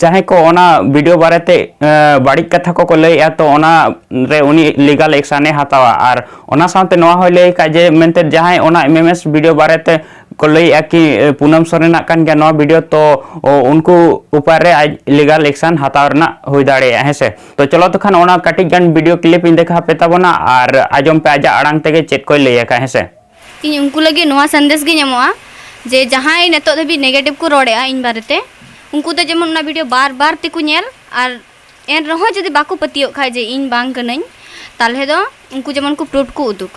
ᱡᱟᱦᱟᱸᱭ ᱠᱚ ᱚᱱᱟ ᱵᱷᱤᱰᱤᱭᱳ ᱵᱟᱨᱮᱛᱮ ᱵᱟᱹᱲᱤᱡ ᱠᱟᱛᱷᱟ ᱠᱚᱠᱚ ᱞᱟᱹᱭᱮᱫᱼᱟ ᱛᱚ ᱚᱱᱟ ᱨᱮ ᱩᱱᱤ ᱞᱤᱜᱟᱞ ᱮᱠᱥᱟᱱᱮ ᱦᱟᱛᱟᱣᱟ ᱟᱨ ᱚᱱᱟ ᱥᱟᱶᱛᱮ ᱱᱚᱣᱟ ᱦᱚᱸᱭ ᱞᱟᱹᱭ ᱟᱠᱟᱫ ᱡᱮ ᱢᱮᱱᱛᱮ ᱡᱟᱦᱟᱸᱭ ᱚᱱᱟ ᱮᱢ ᱮᱢ ᱮᱥ ᱵᱷᱤᱰᱤᱭᱳ ᱵᱟᱨᱮᱛᱮ ᱠᱚ ᱞᱟᱹᱭᱮᱫᱼᱟ ᱠᱤ ᱯᱩᱱᱟᱢ ᱥᱚᱨᱮᱱᱟᱜ ᱠᱟᱱ ᱜᱮᱭᱟ ᱱᱚᱣᱟ ᱵᱷᱤᱰᱤᱭᱳ ᱛᱚ ᱩᱱᱠᱩ ᱩᱯᱟᱨ ᱨᱮ ᱟᱡ ᱞᱤᱜᱟᱞ ᱮᱠᱥᱟᱱ ᱦᱟᱛᱟᱣ ᱨᱮᱱᱟᱜ ᱦᱩᱭ ᱫᱟᱲᱮᱭᱟᱜᱼᱟ ᱦᱮᱸ ᱥᱮ ᱛᱚ ᱪᱚᱞᱚ ᱛᱚ ᱠᱷᱟᱱ ᱚᱱᱟ ᱠᱟᱹᱴᱤᱡ ᱜᱟᱱ ᱵᱷᱤᱰᱤᱭᱳ ᱠᱞᱤᱯ ᱤᱧ ᱫᱮᱠᱷᱟᱣ ᱯᱮ ᱛᱟᱵᱚᱱᱟ ᱟᱨ ᱟᱸᱡᱚᱢ ᱯᱮ ᱟᱡᱟᱜ ᱟᱲᱟᱝ ᱛᱮᱜᱮ ᱪᱮᱫ ᱠᱚᱭ ᱞᱟᱹᱭ ᱟᱠᱟᱫᱼᱟ ᱦᱮᱸ ᱥᱮ ᱤᱧ ᱩᱱᱠᱩ ᱞᱟᱹᱜᱤᱫ ᱱᱚᱣᱟ ᱥᱟᱸᱫᱮᱥ ᱜᱤᱧ ᱮᱢᱚᱜᱼᱟ ᱡᱮ ᱡᱟᱦᱟᱸᱭ ᱱᱤᱛᱚᱜ ᱫᱷᱟᱹᱵᱤᱡ ᱱᱮᱜᱮᱴᱤᱵᱷ ᱠᱚ ᱨᱚᱲᱮᱜᱼᱟ ᱤᱧ ᱵᱟᱨᱮᱛᱮ ᱩᱱᱠᱩ ᱫᱚ ᱡᱮᱢᱚᱱ ᱚᱱᱟ ᱵᱷᱤᱰᱤᱭᱳ ᱵᱟᱨ ᱵᱟᱨ ᱛᱮᱠᱚ ᱧᱮᱞ ᱟᱨ ᱮᱱ ᱨᱮᱦᱚᱸ ᱡᱩᱫᱤ ᱵᱟᱠᱚ ᱯᱟᱹᱛᱭᱟᱹᱜ ᱠᱷᱟᱡ ᱡᱮ ᱤᱧ ᱵᱟᱝ ᱠᱟᱹᱱᱟᱹᱧ ᱛᱟᱦᱚᱞᱮ ᱫᱚ ᱩᱱᱠᱩ ᱡᱮᱢᱚᱱ ᱠᱚ ᱯᱨᱩᱯᱷ ᱠᱚ ᱩᱫᱩᱜ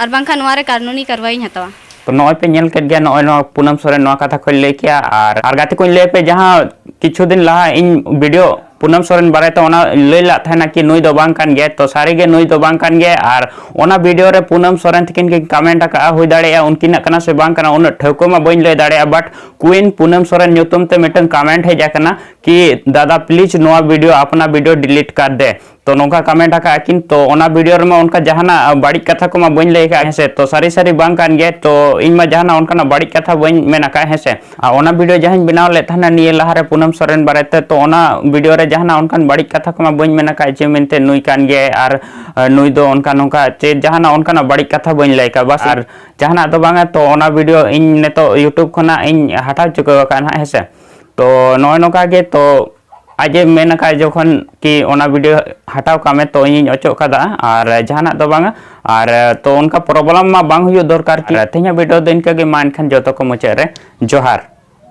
ᱟᱨ ᱵᱟᱝᱠᱷᱟᱱ ᱱᱚᱣᱟ ᱨᱮ ᱠᱟᱨᱱᱩᱱᱤ ᱠᱟᱨᱣᱟᱭᱤᱧ ᱦᱟᱛᱟᱣᱟ ᱛᱚ ᱱᱚᱜᱼᱚᱭ ᱯᱮ ᱧᱮᱞ ᱠᱮᱫ ᱜᱮᱭᱟ ᱱᱚᱜᱼᱚᱭ ᱱᱚᱣᱟ ᱯᱩᱱᱟᱢ ᱥᱚᱨᱮᱱ ᱱᱚᱣᱟ ᱠᱟᱛᱷᱟ ᱠᱚᱭ ᱞᱟᱹᱭ ᱠᱮᱜᱼᱟ ᱟᱨ ᱟᱨ ᱜᱟᱛᱮ ᱠᱚᱧ ᱞᱟᱹᱭ ᱯᱮ ᱡᱟᱦᱟᱸ ᱠᱤᱪᱷᱩ ᱫᱤᱱ ᱞᱟᱦᱟ ᱤᱧ ᱵᱷᱤᱰᱤᱭᱳ ᱯᱩᱱᱟᱢ ᱥᱚᱨᱮᱱ ᱵᱟᱨᱮ ᱛᱮ ᱚᱱᱟ ᱞᱟᱹᱭ ᱞᱟᱜ ᱛᱟᱦᱮᱱᱟ ᱠᱤ ᱱᱩᱭ ᱫᱚ ᱵᱟᱝ ᱠᱟᱱ ᱜᱮᱭᱟ ᱛᱚ ᱥᱟᱹᱨᱤ ᱜᱮ ᱱᱩᱭ ᱫᱚ ᱵᱟᱝ ᱠᱟᱱ ᱜᱮᱭᱟ ᱟᱨ ᱚᱱᱟ ᱵᱷᱤᱰᱤᱭᱳ ᱨᱮ ᱯᱩᱱᱟᱢ ᱥᱚᱨᱮᱱ ᱛᱤᱠᱤᱱ ᱠᱤᱱ ᱠᱟᱢᱮᱱᱴ ᱟᱠᱟᱜᱼᱟ ᱦᱩᱭ ᱫᱟᱲᱮᱭᱟᱜᱼᱟ ᱩᱱᱠᱤᱱᱟᱜ ᱠᱟᱱᱟ ᱥᱮ ᱵᱟᱝ ᱠᱟᱱᱟ ᱩᱱᱟᱹᱜ ᱴᱷᱟᱹᱣᱠᱟᱹ ᱢᱟ ᱵᱟᱹᱧ ᱞᱟᱹᱭ ᱫᱟᱲᱮᱭᱟᱜᱼᱟ ᱵᱟᱴ ᱠᱩᱭᱤᱱ ᱯᱩᱱᱟᱢ ᱥᱚᱨᱮᱱ ᱧᱩᱛᱩᱢ ᱛᱮ ᱢᱤᱫᱴᱟᱝ ᱠᱟᱢᱮᱱᱴ ᱦᱮᱡ ᱟᱠᱟᱱᱟ ᱠᱤ ᱫᱟᱫᱟ ᱯᱞᱤᱡᱽ ᱱᱚᱣᱟ ᱵᱷᱤᱰᱤᱭᱳ ᱟᱯᱱᱟ ᱵᱷᱤᱰᱤᱭᱳ ᱰᱤᱞᱤᱴ ᱠᱟᱨ ᱫᱮ ᱛᱚ ᱱᱚᱝᱠᱟ ᱠᱟᱢᱮᱱᱴ ᱟᱠᱟᱜᱼᱟ ᱠᱤᱱ ᱛᱚ ᱚᱱᱟ ᱵᱷᱤᱰᱤᱭᱳ ᱨᱮᱢᱟ ᱚᱱᱠᱟ ᱡᱟᱦᱟᱱᱟᱜ ᱵᱟᱹᱲᱤᱡ ᱠᱟᱛᱷᱟ ᱠᱚᱢᱟ ᱵᱟᱹᱧ ᱞᱟᱹᱭ ᱟᱠᱟᱫ ᱦᱮᱸᱥᱮ ᱛᱚ ᱥᱟᱹᱨᱤ ᱥᱟᱹᱨᱤ ᱵᱟᱝ ᱠᱟᱱ ᱜᱮᱭᱟ ᱛᱚ ᱤᱧ ᱢᱟ ᱡᱟᱦᱟᱱᱟᱜ ᱚᱱᱠᱟᱱᱟᱜ ᱵᱟᱹᱲᱤᱡ ᱠᱟᱛᱷᱟ ᱵᱟᱹᱧ ᱢᱮᱱ ᱟᱠᱟᱫ ᱦᱮᱸᱥᱮ ᱟᱨ ᱚᱱᱟ ᱵᱷᱤᱰᱤᱭᱳ ᱡᱟᱦᱟᱸᱧ ᱵᱮᱱᱟᱣ ᱞᱮᱫ ᱛᱟᱦᱮᱱᱟ ᱱᱤᱭᱟᱹ ᱞᱟᱦᱟᱨᱮ ᱯᱩᱱᱟᱢ ᱥᱚᱨᱮᱱ ᱵᱟᱨᱮᱛᱮ ᱛᱚ ᱚᱱᱟ ᱵᱷᱤᱰᱤᱭᱳ ᱨᱮ ᱡᱟᱦᱟᱱᱟᱜ ᱚᱱᱠᱟᱱ ᱵᱟᱹᱲᱤᱡ ᱠᱟᱛᱷᱟ ᱠᱚᱢᱟ ᱵᱟᱹᱧ ᱢᱮᱱ ᱟᱠᱟᱫ ᱡᱮ ᱢᱮᱱᱛᱮ ᱱᱩᱭ ᱠᱟᱱ ᱜᱮᱭᱟᱭ ᱟᱨ ᱱᱩᱭ ᱫᱚ ᱚᱱᱠᱟ ᱱᱚᱝᱠᱟ ᱪᱮ ᱡᱟᱦᱟᱱᱟᱜ ᱚᱱᱠᱟᱱᱟᱜ ᱵᱟᱹᱲᱤᱡ ᱠᱟᱛᱷᱟ ᱵᱟᱹᱧ ᱞᱟᱹᱭ ᱟᱠᱟᱫ ᱵᱟᱥ ᱟᱨ ᱡᱟᱦᱟᱱᱟᱜ ᱫᱚ ᱵᱟᱝᱟ ᱛᱚ ᱚᱱᱟ ᱵᱷᱤᱰᱤᱭᱳ ᱤᱧ ᱱᱤᱛᱚᱜ ᱤᱭᱩᱴᱩᱵᱽ ᱠᱷᱚᱱᱟᱜ ᱤᱧ ᱦᱟᱴᱟᱣ ᱪᱩᱠᱟᱹᱣ ᱟᱠᱟᱫᱼᱟ ᱱᱟᱦᱟᱜ ᱦᱮᱸᱥᱮ ᱛᱚ ᱱᱚᱜᱼᱚᱭ ᱱᱚᱝᱠᱟ ᱜᱮ ᱛᱚ ᱟᱡᱮ ᱢᱮᱱ ᱟᱠᱟᱫ ᱡᱚᱠᱷᱚᱱ ᱠᱤ ᱚᱱᱟ ᱵᱷᱤᱰᱤᱭᱳ ᱦᱟᱴᱟᱣ ᱠᱟᱜ ᱢᱮ ᱛᱚ ᱤᱧᱤᱧ ᱚᱪᱚᱜ ᱠᱟᱫᱟ ᱟᱨ ᱡᱟᱦᱟᱱᱟᱜ ᱫᱚ ᱵᱟᱝᱟ ᱟᱨ ᱛᱚ ᱚᱱᱠᱟ ᱯᱨᱚᱵᱞᱮᱢ ᱢᱟ ᱵᱟᱝ ᱦᱩᱭᱩᱜ ᱫᱚᱨᱠᱟᱨ ᱠᱤ ᱛᱮᱦᱮᱧᱟᱜ ᱵᱷᱤᱰᱤᱭᱳ ᱫᱚ ᱤᱱᱠᱟᱹ ᱜᱮ ᱢᱟ ᱮᱱᱠᱷᱟᱱ ᱡᱚᱛᱚ ᱠᱚ ᱢᱩᱪᱟᱹᱫ ᱨᱮ ᱡᱚᱦᱟᱨ